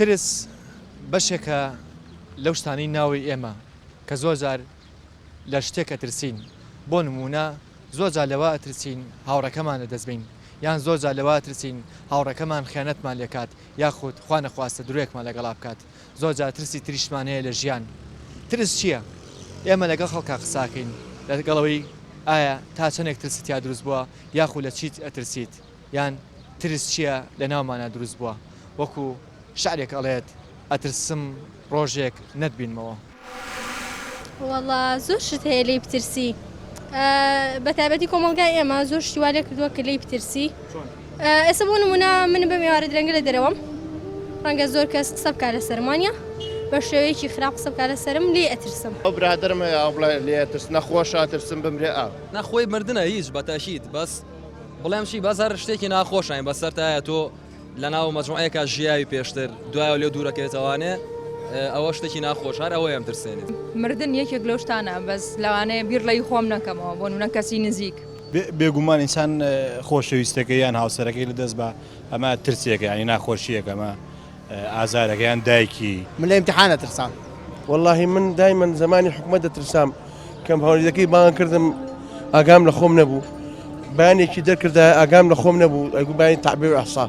ترس بەشێکە لەو شتانەی ناوەی ئێمە کە زۆر جار لە شتێک ئەترسین بۆ نمونە زۆر جار لەوە ئەترسین هاوڕەکەمان لە دەستبین یان زۆر جار لەوە ئەترسین هاوڕەکەمان خیانەتمان لێکات یاخود خوا نەخواستە درۆیەکمان لەگەڵا بکات زۆر جار ترسی تریشمان هەیە لە ژیان. ترس چییە؟ ئێمە لەگەڵ خەڵکا قساکەین لەگەڵ ئەوەی ئایا تا چەندێک ترست تیا دروست بووە یاخو لە چیت ئەترسیت یان ترس چییە لە ناومانا دروست بووە وەکو شعرێک ئەڵێت ئەترسم ڕۆژێک نەتبینمەوە. وەڵا زۆر شت هەیە لێی بترسی بەتابەتی کۆمەلگای ئێمە زۆر شتیوا لێ کردووە کە لێی بترسی ئێستا بۆ نمونە من بەم ێوارە درەنگە لە دەرەوەم ڕەنگە زۆر کەس قسە بکە لە سەرمانە بە شێوەیەکی خراپ قسە بکە لە سرم لێ ئەترسم ئەو برادرم هەیە ئەو بڵێ لێ ترس نەخۆشە ترسم بمرێ ئا نەخۆی مردنە هیچ بەتەشیت بەس بڵێم چی بەس هەر شتێکی ناخۆشین بەسەرتایە تۆ لە ناو مەجموعەیەکا ژیاوی پێشتر دوایەوە لێو دوورەکەوێتەوانێ ئەوە شتێکی ناخۆش هەر ئەوەیەم ترسێنێت. مردن یەکێک لەو شتانە بەس لەوانەیە بیر لەی خۆم نەکەمەوە بۆ نمونە کەسی نزیک. بێگومان ئینسان خۆشەویستەکەی یان هاوسەرەکەی لە دەست با ئەمە ترسێکە یانی ناخۆشیەکە ئەمە ئازارەکە یان دایکی. من لە ئیمتیحان ئەترسام. وەڵاهی من دایمەن زەمانی حکومەت دەترسام. کەم هەوریدەکەی بانگ کردم ئاگام لە خۆم نەبوو بانێکی دەرکردا ئاگام لە خۆم نەبوو ئەگو بانی تعبیر ئەحسا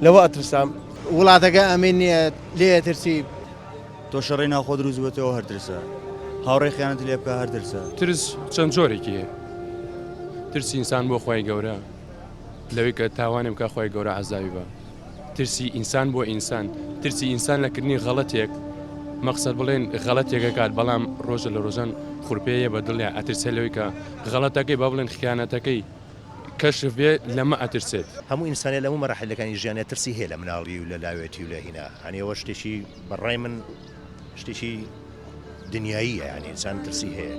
لەوە ئەترسام وڵاتەکە ئەمین نیە لێ ترسی تۆ شەڕی ناوخۆ دروست بێتەوە هەرترسە هاوڕێ خیانەت لێ بکە هەرترسە ترس چەند جۆرێکی هەیە ترسی ئینسان بۆ خۆی گەورە لەوەی کە تاوانێ بکە خۆی گەورە عزاوی بە ترسی ئینسان بۆ ئینسان، ترسی ئینسان لە کردنی غەڵەتێک، مەقسەد بڵێن غەڵەتێک ئەکات بەڵام ڕۆژە لە ڕۆژان خورپێ یە بە دڵیا ئەترسێ لەوەی کە غەڵەتەکەی با بڵێن خیانەتەکەی کەشف بێ لەمە ئەترسێت. هەموو ئینسانێ لە هەموو مەراحیلەکانی ژیانیا ترسی هەیە لە مناڵی و لە لاوێتی و لە هینا یانی ئەوە شتێکی بە ڕای من شتێکی دنیاییە یانی ئینسان ترسی هەیە.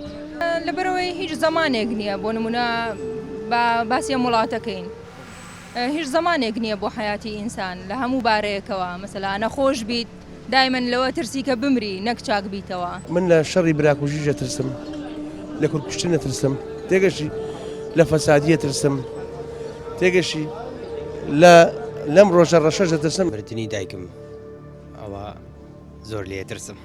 لەبەرئەوەی هیچ زەمانێک نیە بۆ نموونە با باسی ئەم وڵاتە کەین. هیچ زەمانێک نیە بۆ حەیاتی ئینسان لە هەموو بارەیەکەوە مەسەلا نەخۆش بیت دایمەن لەوە ترسی کە بمری نەک چاک بیتەوە. من لە شەڕی براکوژیش ئەترسم لە کورد کوشتن ئەترسم تێگەشتی لە فەسادی ئەترسم تێگەشتی لە لەم ڕۆژە ڕەشەش ئەترسم. مردنی دایکم ئەوە زۆر لێ ئەترسم.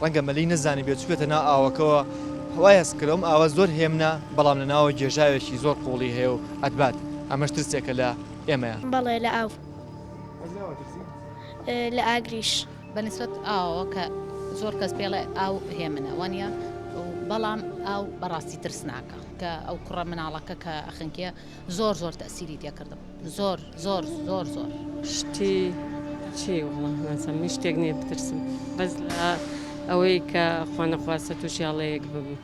ڕەنگە مەلی نەزانیبێت چووبێتە ناو ئاوەکەوە وای هەست کرد ئەم ئاوە زۆر هێمنە بەڵام لە ناوە گێژاوێکی زۆر قوڵی هەیە و ئەتبات ئەمەش ترسێکە لە ئێمەیە. بەڵێ لە ئاو لە ئاگریش. بە نسبەت ئاوەوە کە زۆر کەس پێڵێ ئاو هێمنە وانیە بەڵام ئاو بەڕاستی ترسناکە کە ئەو کوڕە مناڵەکە کە ئەخنکێ. زۆر زۆر تەئسیری تێکردم زۆر زۆر زۆر زۆر. شتی چی وەڵا نازانم هیچ شتێک نیە بترسم بەس لە ئەوەی کە خوا نەخواستە توشی هەڵەیەک ببم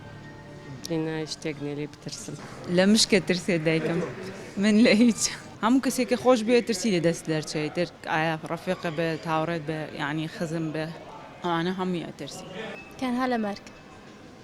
ئینا هیچ شتێک نیە لێی بترسم. لە مشکت ترسێت دایکم من لە هیچ. هەموو کەسێک کە خۆش بوێت ترسی لە دەست دەرچێ ئیتر ئایە ڕەفیقت بێت هاوڕێت بێت یانی خزم بێت ئەوانە هەمووی ئەترسی. تەنها لە مەرگ.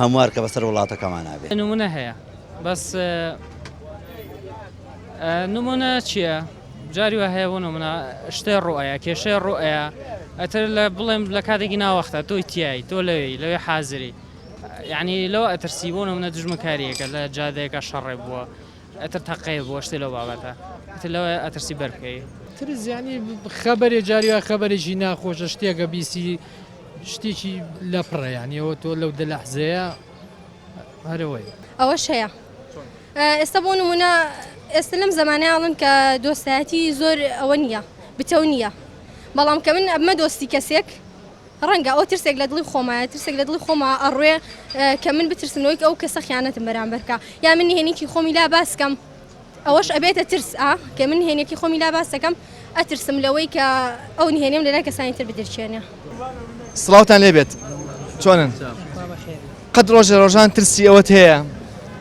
هەموار کە بەسەر وڵاتەکەمانا بێ. نمونە هەیە بەس نمونە چیە جاری وا هەیە بۆ نمونە شتێ ڕوئەیە کێشەی ڕوئەیە ئەتر لە بڵێم لە کاتێکی ناوەختە تۆی تیایی تۆ لەوێی لەوێ حازری یعنی لەوە ئەترسی بۆ نمونە دژمنکاریەکە لە جادەیەکە شەڕێ بووە ئەتر تەقەیە بووە شتێ لەو بابەتە ئەتر لەوەیە ئەترسی بەر بکەی. ترس یانی خەبەرێ جاری وایە خەبەرێکی ناخۆشە شتێکە بیسی شتێکی لەپڕە یانی ئەوە تۆ لەو دە لەحزەیە هەرەوەی. ئەوەش هەیە ئێستا بۆ نمونە ئێستا لەم زمانە ئاڵن کە دۆستایەتی زۆر ئەوە نییە بتەو نییە بەڵام کە من ئەمە دۆستی کەسێک ڕەنگە ئەوە ترسێک لە دڵی خۆمایە، ترسێک لە دڵی خۆما ئەڕوێ کە من بترسم لەوەی کە ئەو کەسە خیانەتم بەرامبەر بکا، یا من نهێنیی خۆمی لا باس کەم، ئەوەش ئەبێتە ترس، ئا کە من نهێنیی خۆمی لا باس دەکەم، ئەترسم لەوەی کە ئەو نهێنیم لەلای کەسانی تر بدرکێنێ. سڵاوتان لێ بێت چۆنن؟ قەت ڕۆژێ ڕۆژان ترسی ئەوەت هەیە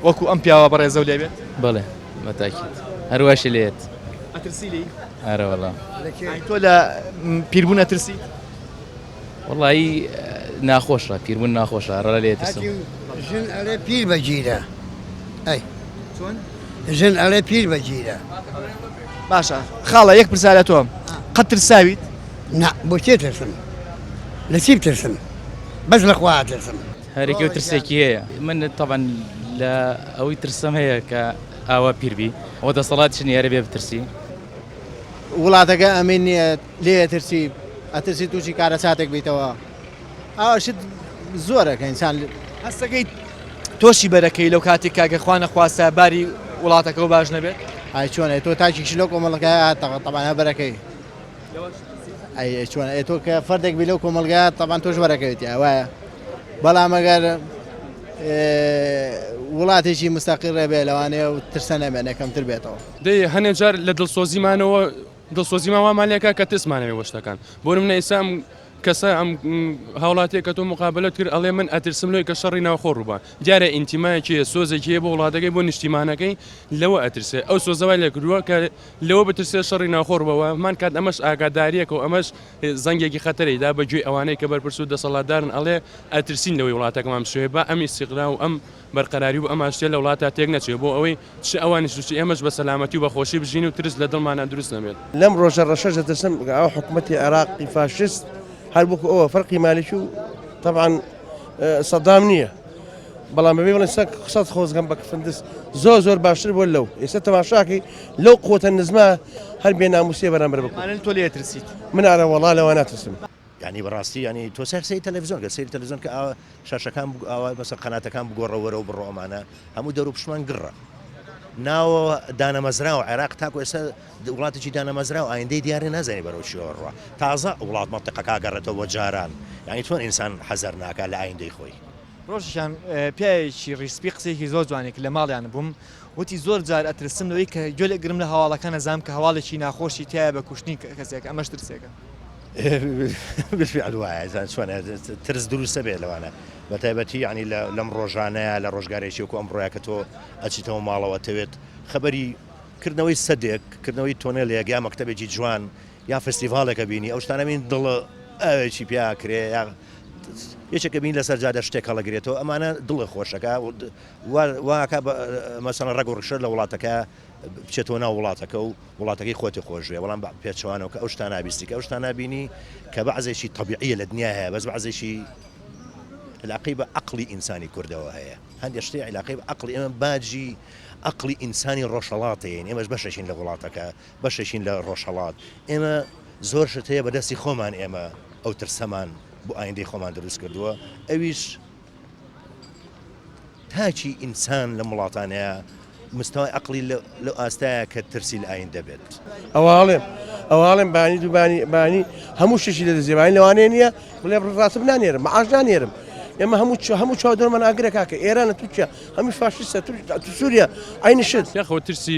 وەکوو ئەم پیاوە بەڕێزەو لێ بێت؟ بەڵێ بە تاکید هەر واشی لێ یەت. ئەترسی لێی؟ ئارە وەڵا. ئای تۆ لە پیربوون ئەترسیت؟ وەڵایی ناخۆشە پیربون ناخۆشە ڕە لێ ترسم ژن ئەڵێ پیر بەگیرە ئەی چۆن ژن ئەڵێ پیر بەگیرە باشە خاڵە یەک پرسیارە تۆم قەت ترساویت نا بۆ چێ ترسم لە چی بترسم بەس لە خوا ترسم هەرێکی و ترسێکی هەیە من طبعا لە ئەوەی ترسم هەیە کە ئاوا پیربی ئەوە دەسەڵات چنی هەرە بێ بترسی وڵاتەکە ئەمین لێ ئەترسی ئەترسی تووشی کارەساتێک بیتەوە ئاوا شت زۆرە کە ئینسان هەستەکەی تۆشی بەرەکەی لەو کاتی کاگە خوا نەخواستە باری وڵاتەکە و باش نەبێت ئای چۆنە تۆ تاکیش لەو کۆمەڵگای هاتەوە تەبانە بەرەکەی ئەی چۆن ئەی تۆ کە فەردێک بی لەو کۆمەلگا تەبان تۆش بەرەکەوێتی ئاوایە بەڵام ئەگەر وڵاتێکی مستەقی ڕێبێ لەوانەیە و ترسە نەمێنێکەمتر بێتەوە دەی هەنێ جار لە دڵسۆزیمانەوە دڵسۆزیمان وامان لێ کە کە ترسمانەوێ بۆ شتەکان بۆ نمونە ئیستا ئەم کەسە ئەم هاوڵاتیە کە تۆ مقابلەت کرد ئەڵێ من ئەترسم لۆی کە شەڕی ناوخۆ ڕووبا دیارە ئینتیمایەکی هەیە سۆزێکی هەیە بۆ وڵاتەکەی بۆ نیشتیمانەکەی لەوە ئەترسێ ئەو سۆزە وای لێ کردووە کە لەوە بترسێ شەڕی ناوخۆ ڕووبەوە هەمان کات ئەمەش ئاگاداریەکە و ئەمەش زەنگێکی خەتەرەی دا بە گوێی ئەوانەی کە بەرپرس و دەسەڵاتدارن ئەڵێ ئەترسین لەوەی وڵاتەکەمان بشێوێ با ئەم ئیستیقرا و ئەم بەرقەراری و ئەمان شتێ لە وڵاتا تێک نەچێ بۆ ئەوەی چ ئەوانیش و چ ئێمەش بە سەلامەتی و بە خۆشی بژین و ترس لە دڵمانا دروست نەبێت. لەم ڕۆژە ڕەشەش دەترسم کە ئەو حکومەتی عێراقی فاشیست هەر وەکو ئەوە فەرقی مالکی و تەبعەن سەدام نیە بەڵام بەبێ بڵێن سەک قسەت خۆزگەم بە کفندس زۆر زۆر باشتر بۆ لەو ئێستا تەماشاکەی لەو قوتە نزمە هەر بێ ناموسێ بەرامبەر بکەن. مانن تۆ لێ ئەترسیت؟ من ئارە وەڵا لەوە ناترسم. یانی بەڕاستی یانی تۆ سەر سەیری تەلەفزیۆن کە سەیری تەلەفزیۆن کە ئاوا شاشەکان بگو ئاوا مەسە قەناتەکان بگۆڕە وەرەو بڕۆ ئەمانە هەموو دەرو پشمان گڕە ناوە دانەمەزرا و عێراق تاکو ئێستا وڵاتێکی دانەمەزرا و ئایندەی دیارە نازانێ بەرەو چیەوە ڕوا تازە وڵات مەنتقەکە گەڕێتەوە بۆ جاران یانی چۆن ئینسان حەزەر ناکا لە ئایندەی خۆی. ڕۆژێکیان پیاوێکی ڕیسپی قسەیەکی زۆر جوانی کرد لە ماڵیان بووم وتی زۆر جار ئەترسم لەوەی کە گوێ لەگرم لە هەواڵەکان نەزانم کە هەواڵێکی ناخۆشی تایە بە کوشتنی کەسێک ئەمەش ترسێکە بالفعل وایە زان چۆنە ترس دروستە بێ لەوانە بە تایبەتی ینی لەم ڕۆژانەیە لە ڕۆژگارێکی وکو ئەم ڕۆیا کە تۆ ئەچیتەوە ماڵەوە تەوێت خبری کردنەوەی سەدێک کردنەوەی تۆنێلێک یا مەکتتەبێکی جوان یا فستیڤالێکە بینی ئەو شتانەبین دڵە ئەوێکی پیاکرێ یا یەکێکە بینی لەسەر جادە شتێک هەڵەگرێتەوە ئەمانە دڵە خۆشەکە واکە مەسەن ڕەگ و ڕشە لە وڵاتەکە بچێتەوە ناو وڵاتەکە و وڵاتەکەی خۆتی خۆشێ بەڵام پێچوانەوە کە ئەو شتا نابیستی کە ئەو شتا نبینی کە بە عزێکی طبیعە لە دنیا هەیە بەس بە عزێکی علاقی بە عقلی ئینسانی کوردەوە هەیە هەندێک شتی علاقی بە عقلی ئێمە باجی عقلی ئینسانی ڕۆژهڵاتەیە ئێمەش بەشەشین لە وڵاتەکە بەشێکین لە ڕۆژهەڵات ئێمە زۆر شت هەیە بەدەستی خۆمان ئێمە ئەو ترسەمان بۆ ئایندەی خۆمان دروست کردووە ئەویش تاچی ئینسان لە وڵاتانەیە مستەوای عقلی لە ئاستایە کە ترسی لە ئاین دەبێت ئەواڵێم ئەواڵێم بانی دووبانی بانی هەموو شتشی لە دەزیێبانی لەوانێ نییە بڵێ ڕاستم نانێرم معاش نانێرم ئێمە هەموو چ هەموو چاودەرمان ئاگرە کاکە ئێرانە تووچە هەموو فاشیسە سووریا ئاینشت یاخۆ ترسی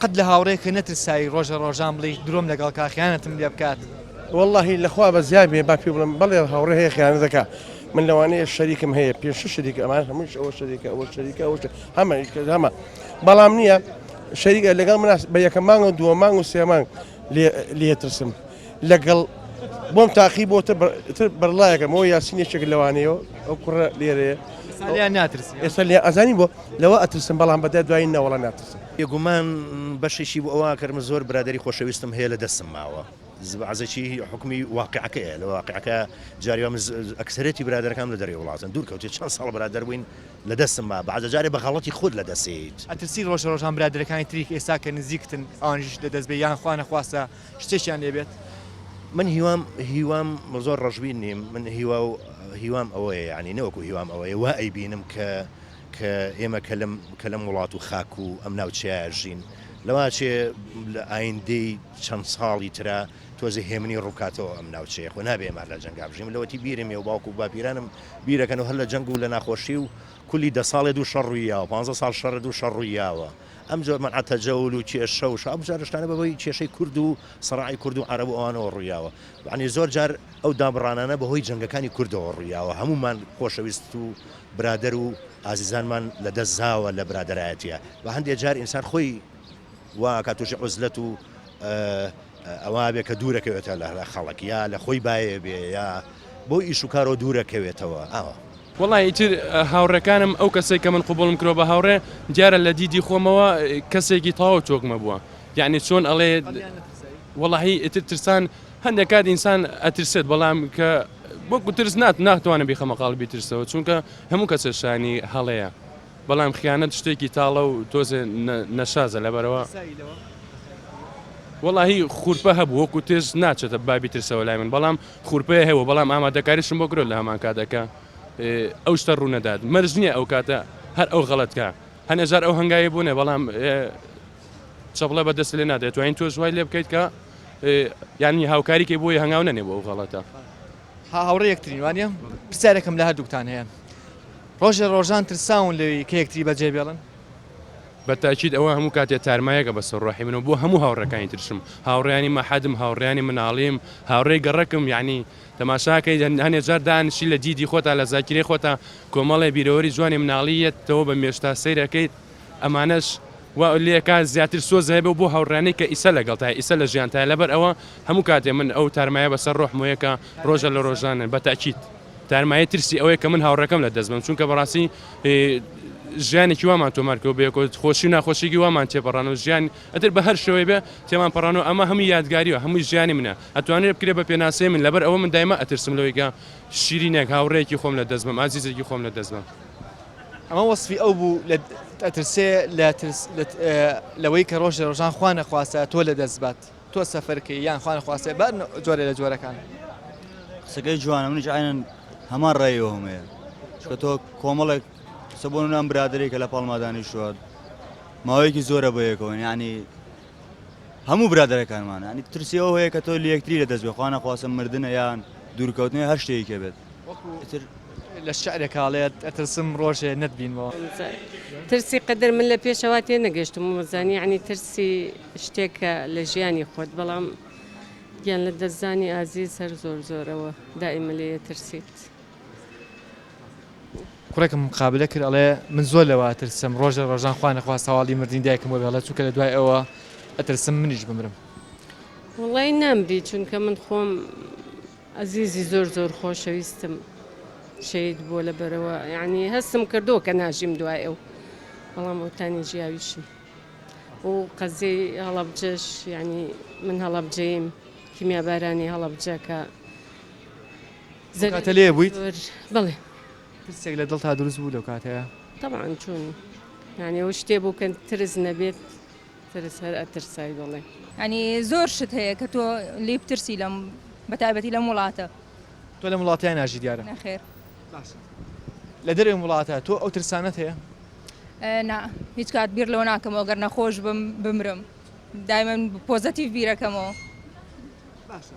قەت لە هاوڕێکە نەترساوی ڕۆژە ڕۆژان بڵێی درۆم لەگەڵ کا خیانەتم لێ بکات. وەڵاهی لە خوا بەزیاد بێ با پێ بڵێم بەڵێ هاوڕێ هەیە خیانەت دەکا من لەوانەیە شەریکم هەیە پێ شش شەریکە ئەمان هەمووش ئەوە شەریکە ئەوە شەریکە ئەوە هەمە هەمە بەڵام نییە شەریکە لەگەڵ مناس بە یەکە مانگەوە دووە مانگ و سێ مانگ لێ ترسم لەگەڵ بۆم تاقی بۆ تر بەرڵایەکە مۆ یاسینێکێک لەوانەیە ئەو کوڕە لێرێ ناترسی ئێستا لێ ئەزانی بۆ لەوە ئەترسم بەڵام بەدە دوای نەوەڵە ناترسم یگومان بەشێکی بۆ ئەوە کەرمە زۆر برادری خۆشەویستم هەیە لە دەستم ماوە عزەکی حکومی واقعەکەەیە لە واقعەکە جاریوام ئەکسەرێتی برادەکان لە دەری وڵاتن دوور کەوتێت چەند ساڵ برادەر بووین لە دەستم ما بەعزە جارێ بە غەڵەتی خۆت لە دەست ئەیەیت. ئەترسی ڕۆژە ڕۆژان برادەرەکانی تریک ئێستا کە نزیکتن ئەوانیش لە دەست بێ یان خوا نەخواستە شتێکیان لێ بێت؟ من هیوام هیوام زۆر ڕەشبین نیم من هیوا و هیوام ئەوەیە یانی نەوەکو هیوام ئەوەیە وا ئەیبینم کە کە ئێمە کە لەم کە لەم وڵات و خاک و ئەم ناوچەیە ئەژین لەوە چێ لە ئایندەی چەند ساڵی ترا تۆزێ هێمنی ڕووکاتەوە ئەم ناوچەیە خۆ نابێ ئێمار لە جەنگا بژیم لەوەتی بیرم یە و باوکو و باپیرانم بیرەکەن و هەر لە جەنگ و لە ناخۆشی و کولی دە ساڵێ دوو شەڕ ڕوویاوە پانزە ساڵ شەڕ دوو شەڕ ڕوویاوە ئەم جۆر من عتەجەول و کێشە و شاو بجارشتانە بەبەوەی کێشەی کورد و سەڕعی کورد و عەرەب و ئەوانەوە ڕوویاوە بەعنی زۆر جار ئەو دابڕانانە بەهۆی جەنگەکانی کوردەوە ڕوویاوە هەمومان خۆشەویست و برادەر و ئازیزانمان لە دەست زاوە لە برادەرایەتیە بە هەندێ جار ئینسان خۆی وا ئەکات توشی عوزلەت و ئەوا بێ کە دوورە کەوێتە لە خەڵک یا لە خۆی باێ بێ یا بۆ ئیش و کارەوە دوورە کەوێتەوە ئاوا. وەڵا ئیتر هاوڕێکانم ئەو کەسەی کە من قبوڵم کردوە بە هاوڕێ دیارە لە دیدی خۆمەوە کەسێکی تاو تۆکمە بوە یەعنی چۆن ئەڵێ وەڵاهی ئیتر ترسان هەندێک کات ئینسان ئەترسێت بەڵام کە وەکو ترس نات ناتوانم بیخەمە قاڵبی ترسەوە چونکە هەموو کەسە شانی هەڵەیە بەڵام خیانەت شتێکی تاڵە و تۆزێ نەشازە لەبەرەوە وەڵاهی خورپە هەبوو وەکو تێز ناچێتە بابی ترسەوە لای من بەڵام خورپەیە هەیە بەڵام ئامادەکاریشم بۆ کرۆ لە هەمان کاتەکە ئەو شتە ڕوونەدات مەرج نییە ئەو کاتە هەر ئەو غەڵەتکە هەنێجار ئەو هەنگاوی بوونێ بەڵام چەپڵە بە دەست لێ نادێت توانین تۆش وای لێ بکەیت کە یانی هاوکاریکەی بۆی هەنگاو نەنێ بۆ ئەو غەڵەتە ها هاوڕێ یەکترین وانە پرسیارێکم لە هەردووکتان هەیە ڕۆژێ ڕۆژان ترساون لەوی کە یەکتری بەجێ بێڵن بە تاکیید ئەوە هەموو کاتێ تارمایەکە بە سەرڕۆحی منەوە بۆ هەموو هاوڕەکانی ترشم هاوڕیانی مەحەدم هاوڕیانی مناڵیم هاوڕێی گەڕکم یعنی تەماشاکەی هەنێ جار دانشی لە دیدی خۆتا لە زاکرێ خۆتا کۆمەڵێ بیرەوەری جوانی مناڵیەتەوە بە مێشتا سەیرەکەیت ئەمانەش وا لێکا زیاتر سۆز هەیە بۆ بۆ هاوڕیانەی کە ئیسە لەگەڵتایە ئیسە لە ژیانتایە لەبەر ئەوە هەموو کاتێ من ئەو تارمایە بەسەر ڕۆح مۆیە کە ڕۆژە لە ڕۆژانن بە تاکید تارمایە ترسی ئەوەیە کە من هاوڕێکەم لە دەست بم چونکە بەڕاستی ژیانێکی وامان تۆمار کرد بە یەکۆ خۆشی و ناخۆشیی وامان تێپەڕان و ژیان ئەتر بە هەر شێوەی بێ تێمان پەڕان و ئەمە هەموو یادگاری و هەموو ژیانی منە ئەتوانرێ بکرێ بە پێناسەی من لەبەر ئەوە من دایمە ئەترسم لەوەی کە شیرینێک هاوڕێیەکی خۆم لە دەست بم ئازیزێکی خۆم لە دەست بم ئەمە وەسفی ئەو بوو لە ئەترسێ لە ترس لەوەی کە ڕۆژێ ڕۆژان خوا نەخواستە تۆ لە دەست بات تۆ سەفەرکەی یان خوا نەخواستێ بار جۆرە لە جۆرەکان قسەکەی جوانە منیش عینەن هەمان ڕێەوە هەمەیە چکە تۆ کۆمەڵێک قسە بۆ نام برادێکە لە پاڵمادانی شوات ماوەیەکی زۆرە بەیەکەوە ینی هەموو برادەرەکانمانە ینی ترسی ئەوە هەیە کە تۆ لەکتری لە دەست بێ خوا نەخواستە مردنە یان دوورکەوتنی هەر شتێکی کە بێت ئیتر لە شعرێک کاڵێت ئەترسم ڕۆژێ نەتبینمەوە. ترسی قەدەر من لە پێشەوا تێنەگەشتم و زانی یعنی ترسی شتێکە لە ژیانی خۆت بەڵام گیان لە دەستدانی ئازیز هەر زۆر زۆرەوە دائیمە لێ ئەترسیت. کوڕێکم مقابلە کرد ئەڵێ من زۆر لەوە ئەترسم ڕۆژ لە ڕۆژان خوا نەخواست هەواڵی مردنی دایکم بۆ بێڵێ چونکە لە دوای ئەوە ئەترسم منیش بمرم وڵی نامری چونکە من خۆم ئەزیزی زۆر زۆر خۆشەویستم شەید بۆ لە بەرەوە یعنی هەستم کردو کە ناژیم دوای ئەو بەڵام ئەوتانی ژیاویشم و قەزی هەڵەبجەش یعنی من هەڵەبجەیم کیمیابارانی هەڵەبجەکە ئەو کاتە زەرەری لێ بوویت؟ زۆر بەڵێ ترسێک لە دڵتا دروست بوو لەو کاتەیا؟ تەبعەن چۆن یانی ئەو شتێ بوو کە ترس نەبێت ترس هەر ئەترسای بەڵێ. یانی زۆر شت هەیە کە تۆ لێی بترسی لەم بە تایبەتی لەم وڵاتە. تۆ لەم وڵاتەیا ناژی دیارە؟ نەخێر. باشە لە دەرەوەی وڵاتە تۆ ئەو ترسانەت هەیە؟ نا هیچ کات بیر لەوە ناکەمەوە گەر نەخۆش بم بمرم دایمەن پۆزەتیڤ بیرەکەمەوە. باشە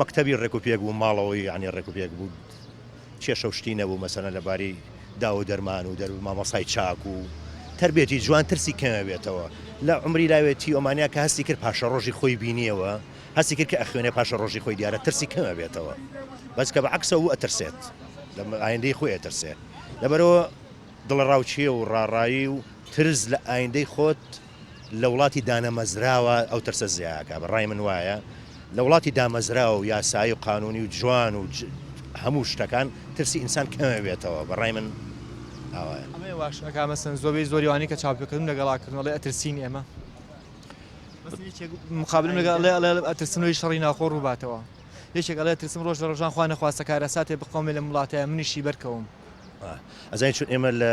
مەکتەبی ڕێک و پێک بوو ماڵەوەی یانی ڕێک و پێک بوو کێشە و شتی نەبوو مەسەلەن لە باری داو و دەرمان و دەر مامۆسای چاک و تەربێتی جوان ترسی کەمێ بێتەوە لە عومری لاوێتی ئۆمانیا کە هەستی کرد پاشە ڕۆژی خۆی بینیەوە هەستی کرد کە ئەخوێنێ پاشە ڕۆژی خۆی دیارە ترسی کەمە بێتەوە بەس کە بە عکسە و ئەترسێت لە ئایندەی خۆی ئەترسێ لەبەرەوە دڵەڕاوچیە و ڕاڕایی و ترس لە ئایندەی خۆت لە وڵاتی دانەمەزراوە ئەو ترسە زیاکە بە ڕای من وایە لە وڵاتی دامەزراوە و یاسایی و قانونی و جوان و هەموو شتەکان ترسی ئینسان کەمەبێتەوە بە ڕای من ئاوایە. ئەمەی واش ئەکا مەسەن زۆبەی زۆری وانەی کە چاپ کردم لە گەڵا کردن ئەڵێ ئەترسین ئێمە مەسەن یەکێک مقابلم لەگەڵ ئەڵێ ئەڵێ ئەترسم لۆی شەڕی ناوخۆ ڕوو باتەوە یەکێک ئەڵێ ئەترسم ڕۆژ لە ڕۆژان خوا نەخواستە کارەساتێ بقەومێ لەم وڵاتەیا منیشی بەرکەوم ئەزانی چون ئێمە لە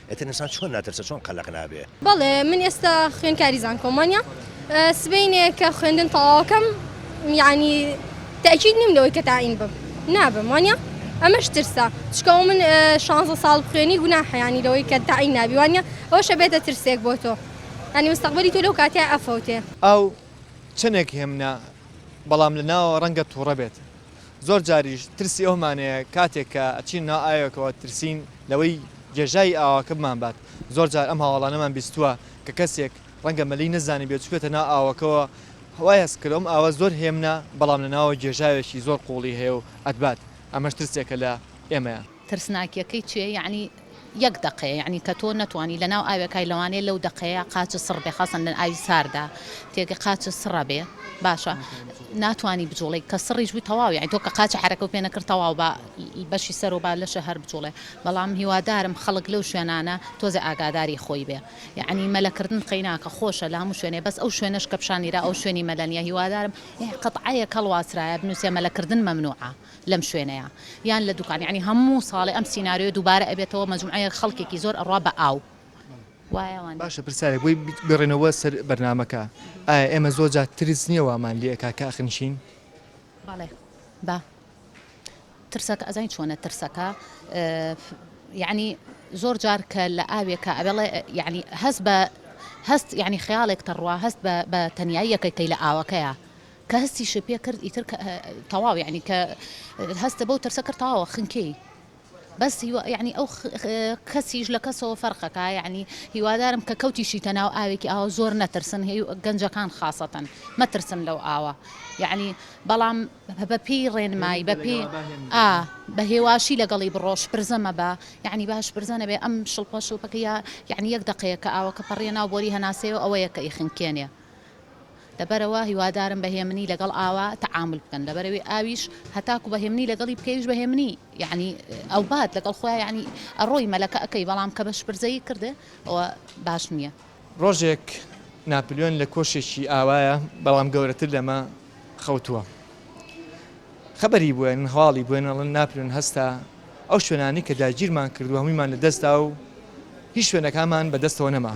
ئیتر ئینسان چۆن ناترسێ چۆن قەلەق نابێ. بەڵێ من ئێستا خوێندکاری زانکۆمانیا سبەینێ کە خوێندن تەواوەکەم یعنی تاکیید نیم لەوەی کە تاین بم نابم وانە ئەمەش ترسە چکەوە من شانزە ساڵ خوێنی گونا حیانی لەوەی کە تاین نابیوانە ئەوە شەبێتە ترسێک بۆ تۆ ئەنی مستەقبلی تۆ لەو کاتیا ئەفەوتێ. ئاو چەنێک هێمنە بەڵام لە ناوەوە ڕەنگە توڕە بێت. زۆر جاریش ترسی ئەوەمان هەیە کاتێک کە ئەچین ناو ئاوێکەوە ترسین لەوەی گێژاوی ئاواکە بمانبات، زۆر جار ئەم هەواڵانەمان بیستووە کە کەسێک ڕەنگە مەلی نەزانیبێت چووبێتە ناو ئاوەکەوە وای هەست کردووە ئەم ئاوە زۆر هێمنە بەڵام لەناوەوە گێژاوێکی زۆر قوڵی هەیە و ئەتبات، ئەمەش ترسێکە لە ئێمە. ترسناکیەکەی چیە یەعنی یەک دەقەیە یەعنی کە تۆ نەتوانی لەناو ئاوێ کای لەوانەیە لەو دەقەیە قاچت سڕ بێ خاصەن لە ئاوی ساردا تێگە قاچت سڕە بێ باشە ناتوانی بجوڵی کە سڕیش بووی تەواو یەعنی تۆ کە قاچ حرەکەو پێ نەکرد تەواو بە بەشی سەر و با لەشە هەر بجوڵێ بەڵام هیوادارم خەڵک لەو شوێنانە تۆزێ ئاگاداری خۆی بێ یەعنی مەلەکردن قەیناکە خۆشە لە هەموو شوێنێ بەس ئەو شوێنەش کە پیشانیرا ئەو شوێنی مەلە نیە هیوادارم یەعنی قەتعەیەک هەڵواسرایە بنووسێ مەلەکردن مەمنوعە. لەم شوێنەیا یان لە دوکان یانی هەموو ساڵێ ئەم سیناریۆ دووبارە ئەبێتەوە مەجموعەیەک خەڵکێکی زۆر ئەڕا بە ئاو وایە وان نیە؟ باشە پرسیارێک بۆی بگەڕێنەوە سەر بەرنامەکە ئایا ئێمە زۆر جار ترس نیە وامان لێ ئەکا کە ئەخنچین؟ بەڵێ با ترسەکە ئەزانی چۆنە ترسەکە یانی زۆر جار کە لە ئاوێکە ئەوێڵێ یانی هەست بە هەست یانی خەیاڵێک تەڕوا هەست بە تەنیاییەکەی کەی لە ئاوەکەیە کە هەستیشی پێ کرد ئیتر کە تەواو یەعنی کە هەستە بەو ترسە کرد تەواوە خنکێی بەس هیوا یەعنی ئەو کەسیش لە کەسەوە فەرقەکە یەعنی هیوادارم کە کەوتیشیتە ناو ئاوێکی ئاوا زۆر نەترسن هی گەنجەکان خاصەتەن مەترسن لەو ئاوە یەعنی بەڵام بەپی ڕێنمایی بەپی ئا بە هێواشی لەگەڵی بڕۆش پرزەمە بە یەعنی باش پرزەنە بێ ئەم شڵپە شڵپەکە یا یەعنی یەک دەقەیە کە ئاوەکە پەڕیە ناو بۆری هەناسەیە ئەوە یەکە ئی خنکێنێ لەبەرئەوە هیوادارم بە هێمنی لەگەڵ ئاوا تەعامول بکەن لەبەرئەوی ئاویش هەتاکو بە هێمنی لەگەڵی بکەیش بە هێمنی یەعنی ئەوبات لەگەڵ خۆیا یەعنی ئەڕۆی مەلەکە ئەکەی بەڵام کە بە شپرزەیی کردێ ئەوە باش نیە. ڕۆژێک ناپلیۆن لە کۆشێکی ئاوایە بەڵام گەورەتر لەمە خەوتووە خەبەری بوێن هەواڵی بوێن ئەڵێن ناپلیۆن هەستا ئەو شوێنانەی کە داگیرمان کردووە هەموویمان لە دەستدا و هیچ شوێنەکانمان بە دەستەوە نەما.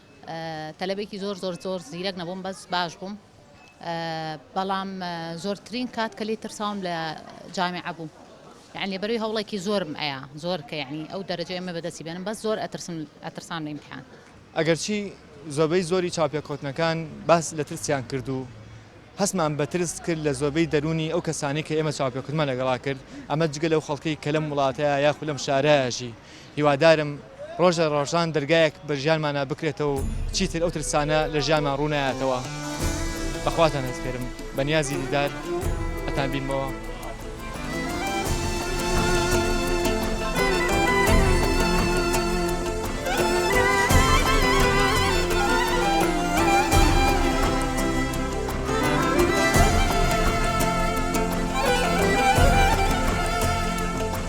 تەلەبێکی زۆر زۆر زۆر زیرەک نەبووم بەس باش بووم بەڵام زۆرترین کات کە لی ترساوم لە جامعە بوو یعنی بەروی هەوڵێکی زۆرم ئەیا زۆر کە یعنی ئەو دەرەجە ئەمە بەدەستی بێنم بەس زۆر ئەترسم ئەترسام لە ئیمتحان ئەگەرچی زۆربەی زۆری چاوپێکەوتنەکان باس لە ترسیان کرد و هەستمان بە ترس کرد لە زۆربەی دەروونی ئەو کەسانی کە ئێمە چاوپێکەوتنمان لەگەڵا کرد ئەمە جگە لەو خەڵکەی کە لەم وڵاتەیە یاخود لەم شارایەژی هیوادارم ڕۆژ لە ڕۆژان دەرگایەک بە ژیانمانا بکرێتەوە و چیتر ئەو ترسانە لە ژیانمان ڕوو نایاتەوە بە خواتان ئەسپێرم بە نیازی دیدار ئەتان بینمەوە.